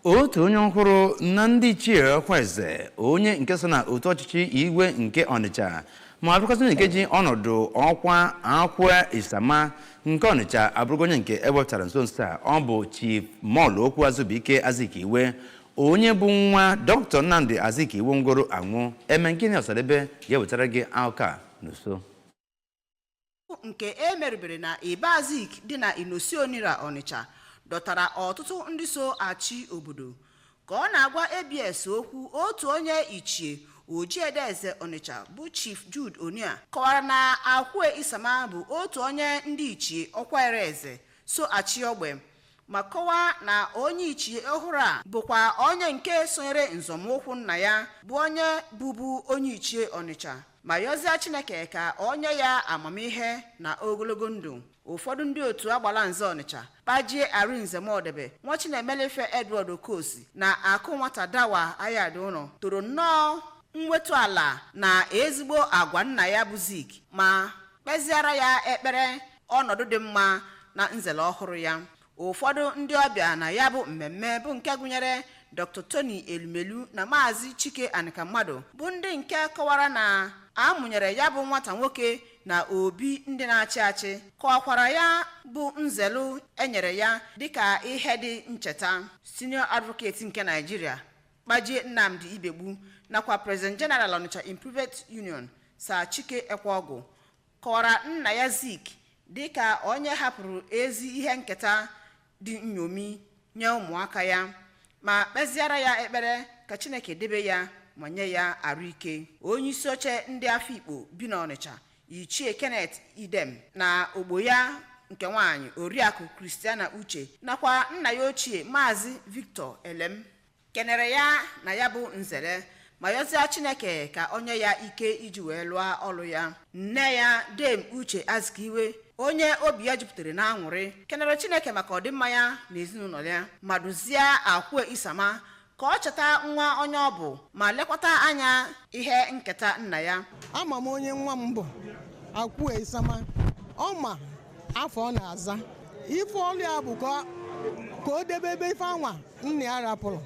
otu onye ọhụrụ na ndị ichie ọkwa eze onye nke so na otu ọchịchị igwe nke ọnịcha ma bụrụkwazị onye nke ji ọnọdụ ọkwa akwue isama nke ọnịcha abụrụgo onye nke ewepụtara nso nso a ọ bụ chief molokwu azubuike azikiwe onye bụ nwa dr nnamdi azikiwe nwụgoro anwụ emengini ọsadebe ga-ewetara gị akụkọ a n'uso nke e merubere na Iba Zik dị na Inosi Onira Ọnịcha dọtara ọtụtụ ndị so achị obodo ka ọ na-agwa ABS okwu otu onye ichie Ojiede Eze Ọnịcha bụ Chief Jude Onyia kọwara na Akwue Isama bụ otu onye ndị ichie ọkwareze so achị ogbe ma kọwaa na onye ichie ọhụrụ a bụkwa onye nke sonyere nzọmụkwụ nna ya bụ onye bụbu onye ichie ọnịcha ma yọzịa chineke ka o nye ya amamihe na ogologo ndụ ụfọdụ ndị otu agbalanze ọnịcha kpajie arinze modebe nwachinemelife edward okosi na akụnwata dawa ayadiuno toro nnọọ mwetu ala na ezigbo agwa nna ya bụ zik ma kpeziara ya ekpere ọnọdụ dị mma na nzelu ọhụrụ ya ụfọdụ ndị ọbịa na ya bụ mmemme bụ nke gụnyere dr tony elumelu na maazị chike anikamadu bụ ndị nke kọwara na a mụnyere ya bụ nwata nwoke na obi ndị na-achị achị kọwakwara ya bụ nzelu enyere ya dịka ihe dị ncheta senior advocate nke naijiria kpajie nnamdi ibegbu nakwa president general onitsha improvement union sir chike ekweogwu kọwara nna ya Zik dị ka onye hapụrụ ezi ihe nketa dị nñomi nye ụmụaka ya ma kpeziara ya ekpere ka Chineke debe ya ma nye ya arụ ike. Onyeisi oche ndị Afikpo bi n'Ọnịcha, Ichie Kenneth Idem na ogbo ya nke nwaanyị, Oriakụ Christiana Uche nakwa nna ya ochie Maazị Victor Elem kenere ya na ya bụ nzele ma yọzịa chineke ka ọ nye ya ike iji wee lụọ ọlụ ya nne ya dame uche azikiwe onye obi ya jupụtara na aṅụrị kenere chineke maka ọdịmma ya na ezinụlọ ya ma duzie akwue isama ka ọ cheta nwa onye ọ bụ ma lekwata anya ihe nketa nna ya ama m onye nwa m bụ akwue isama ọ ma afa ọ na-aza ife ọlụ ya bụ ka o debebe ife anwa nna ya rapụlụ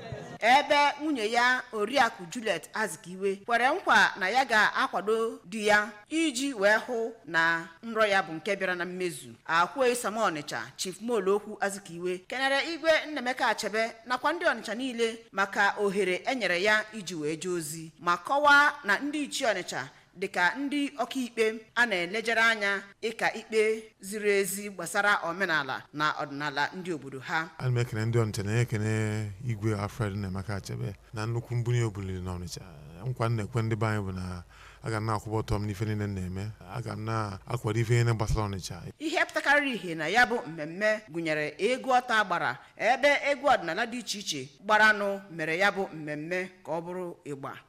ebe nwunye ya oriakụ Juliet Azikiwe kwere nkwa na ya ga-akwado di ya iji wee hụ na nrọ ya bụ nke bịara na mmezu akwue isama ọnịcha chief molokwu Azikiwe kenere igwe Nnaemeka Achebe nakwa ndị ọnịcha niile maka ohere enyere ya iji wee jee ozi ma kọwaa na ndị ichie ọnịcha dịka ndị ọkaikpe a na-elejere anya ịka ikpe ziri ezi gbasara omenala na ọdịnala ndị obodo ha ana m ekene ndị ọnịcha na-ekene igwe alfred nnaemeka achebe na nnukwu mbunye o buliri na ọnịcha nkwa m na-ekwe ndị be anyị bụ na aga m na-akwụba ọtọ m n'ife niile m na-eme aga m na-akwado ife niile gbasara ọnịcha ihe pụtakarịrị ihe na ya bụ mmemme gụnyere egwu ọta a gbara ebe egwu ọdịnala dị iche iche gbaranụ mere ya bụ mmemme ka ọ bụrụ ịgba